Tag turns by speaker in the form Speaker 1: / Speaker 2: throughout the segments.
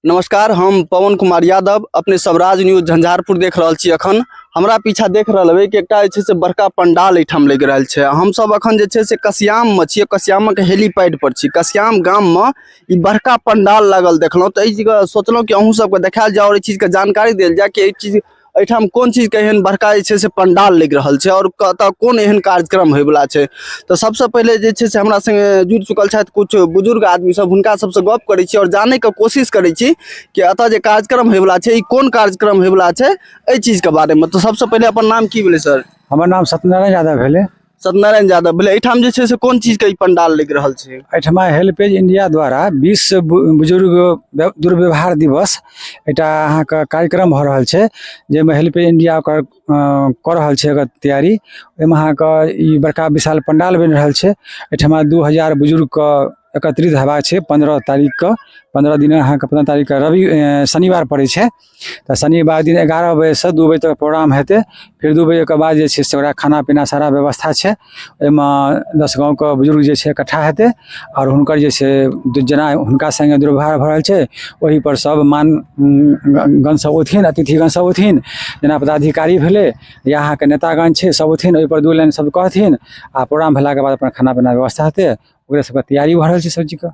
Speaker 1: नमस्कार हम पवन कुमार यादव अपने स्वराज न्यूज झंझारपुर देख रहल छी अखन हमरा पीछा देख रहल हेबै कि एकटा जे छै से बड़का पंडाल एहिठाम लागि रहल छै हमसभ अखन जे छै से कसियाममे छियै कसियामक हेलीपैड पर छी कसियाम गाममे ई बड़का पंडाल लागल देखलहुँ तऽ एहि जगह सोचलहुँ कि अहूँ सभके देखायल जाय आओर एहि चीजके जानकारी देल जाय कि एहि चीज एहिठाम कोन चीजके एहन बड़का जे छै से पंडाल लागि रहल छै आओर कतऽ कोन एहन कार्यक्रम होयवला छै तऽ सबसँ पहिले जे छै से हमरा सङ्गे जुड़ि चुकल छथि किछु बुजुर्ग आदमी सब हुनका सबसँ गप करै छी आओर जानैके कोशिश करै छी कि एतऽ जे कार्यक्रम होयवला छै ई कोन कार्यक्रम होयवला छै एहि चीजके बारेमे तऽ सबसँ पहिले अपन नाम की भेलै सर हमर नाम सत्यनारायण
Speaker 2: यादव भेलै सत्यनारायण यादव
Speaker 1: बोले एठाम जे छै से कोन चीज के ई पंडाल लग रहल छै एहिठमा हेल्पेज
Speaker 2: इंडिया द्वारा विश्व बु- बुजुर्ग व्य- दुर्व्यवहार दिवस एकटा अहाँके कार्यक्रम भऽ रहल छै जाहिमे हेल्पेज इंडिया ओकर अ, कऽ रहल छै ओकर तैयारी ओहिमे अहाँके ई बड़का विशाल पंडाल बनि रहल छै एहिठमा दू हजार बुजुर्गके एकत्रित हेबाक छै पन्द्रह तारीखके पन्द्रह दिन अहाँके पन्द्रह तारीखके रवि अ, शनिवार पड़ै छै तऽ शनिवार दिन एगारह बजेसँ दू बजे तक प्रोग्राम हेतै फेर दू बजेके बाद जे छै से ओकरा खाना पीना सारा व्यवस्था छै ओहिमे दस गाँवके बुजुर्ग जे छै इकट्ठा हेतै आओर हुनकर जे छै जेना हुनका सङ्गे दुर्व्यवहार भऽ रहल छै ओहिपर सब मान गण सब औथिन अतिथिगण सब औथिन जेना पदाधिकारी भेलै या अहाँके नेतागण छै सब औथिन ओहिपर दू लाइन सब कहथिन आ प्रोग्राम भेलाके बाद अपन खाना पीना व्यवस्था हेतै ओकरे सबके तैयारी भऽ रहल छै सब चीजके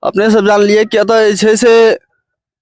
Speaker 2: अपने
Speaker 1: सब जानलिए कि एतऽ जे छै से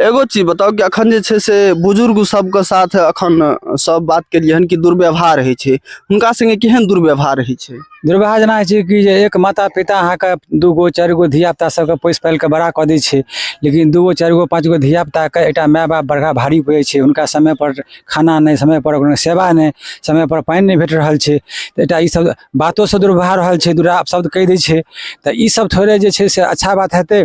Speaker 1: एगो चीज बताउ कि अखन जे छै से बुजुर्ग सबके साथ अखन सब बात केलिए हन कि दुर्व्यवहार होइ छै हुनका संगे केहन दुर्व्यवहार होइ छै दुर्व्यवहार जेना होइ छै
Speaker 2: कि जे एक माता पिता अहाँके दू गो चारि गो धिया पुता सबके पोसि पालि कऽ बड़ा कऽ दै छै लेकिन दू गो चारि गो पाँच गो धिया पुताके एकटा माय बाप बड़का भारी पड़ै छै हुनका समय पर खाना नहि समय पर कोनो सेवा नहि समय पर पानि नहि भेट रहल छै तऽ एकटा ई सब बातो से दुर्व्यवहार रहल छै दुरा शब्द कहि दै छै तऽ ई सब थोड़े जे छै से अच्छा बात हेतै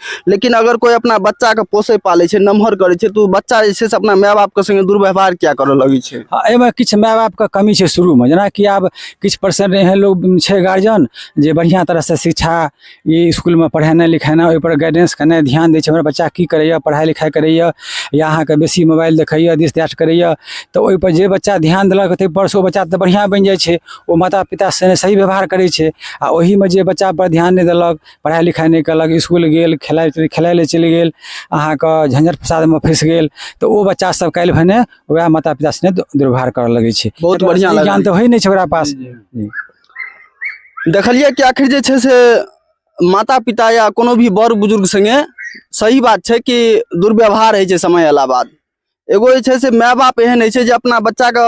Speaker 1: लेकिन अगर कोइ अपना बच्चाके पोसै पालै छै नमहर करै छै तऽ ओ बच्चा जे छै से अपना माय बापके सङ्गे दुर्व्यवहार किया करऽ लगै छै हँ, एहिमे किछु माय बापके
Speaker 2: कमी छै शुरूमे जेनाकि आब किछु परसेंट एहन लोग छै गार्जियन जे बढ़िआँ तरहसँ शिक्षा ई इसकुलमे पढ़ेनाइ लिखेनाइ ओहिपर गाइडेंस केनाइ ध्यान दै छै हमर बच्चा की करैए पढ़ाइ लिखाइ करैए या अहाँके बेसी मोबाइल देखैए दिस दैट करैए तऽ ओहिपर जे बच्चा ध्यान देलक ताहिपर से ओ बच्चा तऽ बढ़िआँ बनि जाइ छै ओ माता पिता से सही व्यवहार करै छै आ ओहिमे जे बच्चापर ध्यान नहि देलक पढ़ाइ लिखाइ नहि केलक इसकुल गेल खेलाइ खेलाइ लए चलि गेल अहाँके झंझट फसादमे फँसि गेल तऽ ओ बच्चा सब काल्हि भने वएह माता पिता सने दु- दुर्व्यवहार करऽ लगै छै बहुत एकर बढ़ियां असली लागल। ज्ञान
Speaker 1: तऽ होइ नहि छै ओकरा
Speaker 2: पास
Speaker 1: देखलियै कि आखिर जे छै से माता पिता या कोनो भी बड़ बुजुर्ग संगे सही बात छै कि दुर्व्यवहार होइ छै समय अयला बाद एगो जे छै से माय बाप एहन होइ छै जे अपना बच्चाके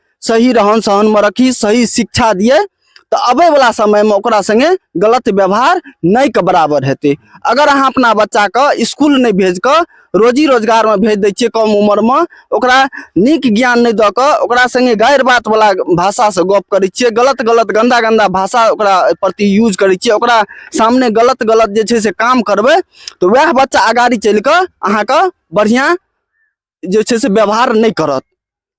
Speaker 1: सही रहन सहनमे रखी सही शिक्षा दिए तऽ अबैवला समयमे ओकरा सङ्गे गलत व्यवहार नहि के बराबर हेतै अगर अहाँ अपना बच्चाके इसकुल नहि भेज कऽ रोजी रोजगारमे भेज दै छियै कम उमरमे ओकरा नीक ज्ञान नहि दऽ कऽ ओकरा सङ्गे गारि बातवला भाषासँ गप करै छियै गलत गलत गन्दा गन्दा भाषा ओकरा प्रति यूज करै छियै ओकरा सामने गलत गलत जे छै से काम करबै तऽ वएह बच्चा अगाड़ी चलि कऽ अहाँके बढ़िआँ जे छै से व्यवहार नहि करत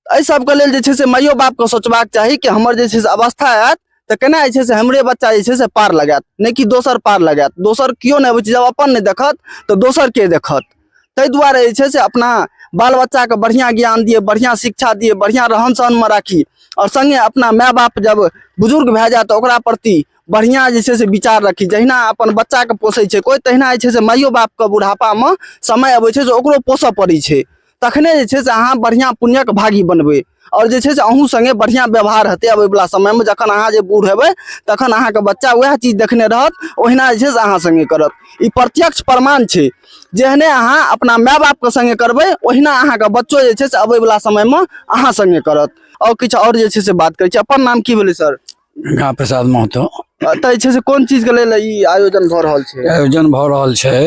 Speaker 1: एहि सबके लेल जे छै से माइयो बापके सोचबाक चाही कि हमर जे छै से अवस्था आयत तऽ केना जे छै से हमरे बच्चा जे छै से पार लगायत नहि कि दोसर पार लगायत दोसर केओ नहि अबै छै जब अपन नहि देखत तऽ दोसर के देखत ताहि दुआरे जे छै से अपना बाल बच्चाके बढ़िआँ ज्ञान दिए बढ़िआँ शिक्षा दिए बढ़िआँ रहन सहनमे राखी आओर सङ्गे अपना माय बाप जब बुजुर्ग भए जाए तऽ ओकरा प्रति बढ़िआँ जे छै से विचार रखी जहिना अपन बच्चाके पोसै छै कोइ तहिना जे छै से माइयो बापके बुढ़ापामे समय अबै छै जे ओकरो पोसऽ पड़ै छै तखने जे छै से अहाँ बढ़िआँ पुण्यक भागी बनबै आओर जे छै से अहूँ सङ्गे बढ़िआँ व्यवहार हेतै अबैवला समयमे जखन अहाँ जे बूढ़ हेबै तखन अहाँके बच्चा उएह चीज देखने रहत ओहिना जे छै से अहाँ सङ्गे करत ई प्रत्यक्ष प्रमाण छै जेहने अहाँ अपना माय बापके सङ्गे करबै ओहिना अहाँके बच्चो जे छै से अबैवला समयमे अहाँ सङ्गे करत आओर किछु आओर जे छै से बात करै छी अपन नाम की भेलै सर गंगा प्रसाद
Speaker 2: महतो एतऽ जे छै से कोन
Speaker 1: चीज के लेल ई आयोजन भऽ रहल छै आयोजन भऽ रहल छै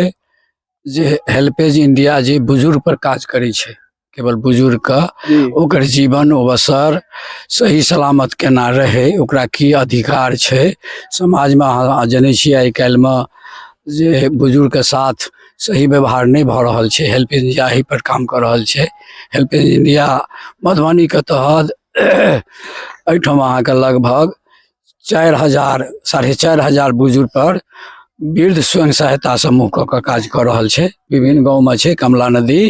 Speaker 2: जे हेल्पेज इंडिया जे बुजुर्ग पर काज करै छै केवल बुजुर्ग के जी ओकर जीवन अवसर सही सलामत केना रहै ओकरा की अधिकार छै समाजमे अहाँ जनै छियै आइ काल्हिमे जे बुजुर्गके साथ सही व्यवहार नहि भऽ रहल छै हेल्प इंडिया एहि पर काम कऽ रहल छै हेल्प इंडिया मधुबनीके तहत एहिठाम अहाँके लगभग चारि हजार साढ़े चारि हजार बुजुर्ग पर वृद्ध स्वयं सहायता समूह कऽ कऽ काज कऽ रहल छै विभिन्न गाँवमे छै कमला नदी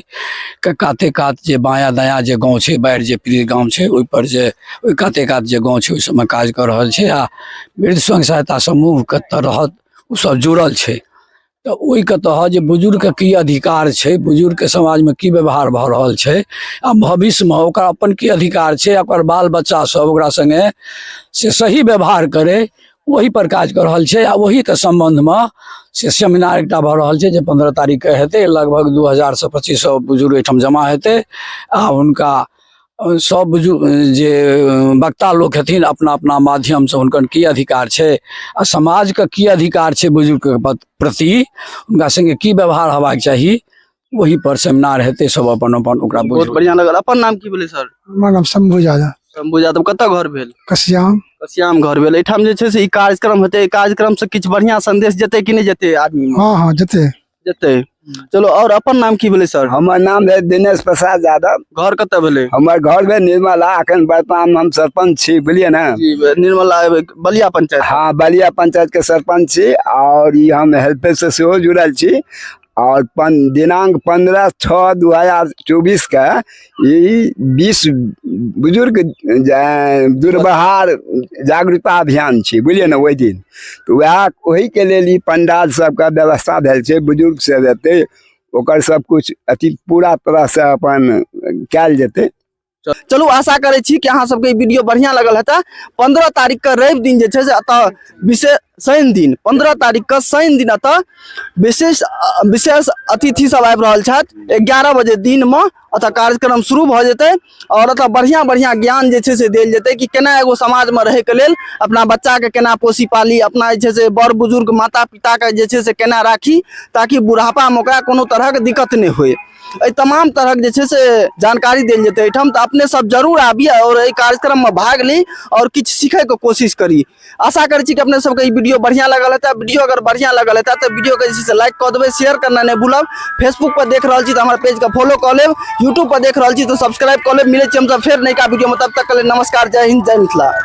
Speaker 2: के काते कात जे बायाँ दायाँ जे गाँव छै बाढ़ि जे पीड़ित गाँव छै ओहिपर जे ओहि काते कात जे गाँव छै ओहि सबमे काज कऽ रहल छै आ वृद्ध स्वयं सहायता समूहके तरहत ओसभ जुड़ल छै तऽ ओहिके तहत जे बुजुर्गके की अधिकार छै बुजुर्गके समाजमे की व्यवहार भऽ रहल छै आ भविष्यमे ओकरा अपन की अधिकार छै ओकर बाल बच्चा सब ओकरा सङ्गे से सही व्यवहार करै ओहि पर काज कऽ रहल छै आ ओहिके सम्बन्धमे से सेमिनार एकटा भऽ रहल छै जे पन्द्रह तारीखके हेतै लगभग दू हजारसँ पच्चीस सए बुजुर्ग एहिठाम जमा हेतै आ हुनका सब बुजुर्ग जे वक्ता लोक हेथिन अपना अपना माध्यमसँ हुनकर की अधिकार छै आ समाजके की अधिकार छै बुजुर्गके प्रति हुनका सङ्गे की व्यवहार हेबाक चाही वही पर सेमिनार हेतै सब अपन अपन ओकरा बहुत बढ़िया लगल अपन नाम
Speaker 1: की भेलै सर हमर नाम शंभू यादव
Speaker 3: शंभू यादव कतऽ घर
Speaker 1: भेल कसियाम कसियाम
Speaker 3: घर भेल
Speaker 1: एहिठाम जे छै से ई कार्यक्रम हेतै एहि कार्यक्रमसँ किछु बढ़िया संदेश जेतै कि नहि जेतै आदमी हँ हँ जेतै
Speaker 3: जेतै
Speaker 1: चलो और अपन नाम की भेलै सर हमर नाम है दिनेश
Speaker 4: प्रसाद यादव घर कतऽ भेलै हमर
Speaker 1: घर है निर्मला
Speaker 4: अखन वर्तमान हम सरपंच छी बुझलिए ना जी, निर्मला
Speaker 1: बलिया पंचायत हाँ बलिया पंचायत
Speaker 4: के सरपंच छी और ई हम हेल्प से सेहो जुड़ल छी और पन, दिनांक पंद्रह छः दू हजार चौबीस के ई विश्व बुजुर्ग जा- दुर्बहार जागरूकता अभियान छै बुझलियै ने ओहि दिन तऽ उएह ओहिके लेल ई पंडाल सबके व्यवस्था भेल छै बुजुर्ग सब एतै ओकर सब कुछ अथी पूरा तरह से अपन कयल जेतै चलू
Speaker 1: आशा करै छी कि अहाँ सबके ई वीडियो बढ़िया लगल हेतै पंद्रह तारीख के रवि दिन जे छै से एतऽ विशेष शनि दिन पंद्रह तारीख के शनि दिन अतः विशेष विशेष अतिथि सब आबि रहल छथि एगारह बजे दिन में अतः कार्यक्रम शुरू भ जेतै और अतः बढ़िया बढ़िया ज्ञान जे से दिल जेतै कि केना एगो समाज में रहे के लेल अपना बच्चा के केना पोसी पाली अपना जे से बड़ बुजुर्ग माता पिता के जे से केना राखी ताकि बुढ़ापा में ओकरा कोनो तरह के दिक्कत नहीं होए एहि तमाम तरह के जे से जानकारी दिल जेतै एहिठाम तऽ अपने सब जरूर आबी और एहि कार्यक्रम में भाग ली और किछु सीखै के कोशिश करी आशा करै छी कि अपने सबके ई वीडियो बढ़िया लगल हेतै वीडियो अगर बढ़िया लगल हेतै तऽ वीडियो के जे छै से लाइक कऽ देबै शेयर करना नहि भूलब फेसबुक पर देख रहल छी तऽ हमर पेज के फॉलो कऽ लेब यूट्यूब पर देख रहल छी तऽ सब्सक्राइब कऽ लेब मिलै छी हमसब फेर नयका वीडियो में तब तक के लेल नमस्कार जय हिंद जय मिथिला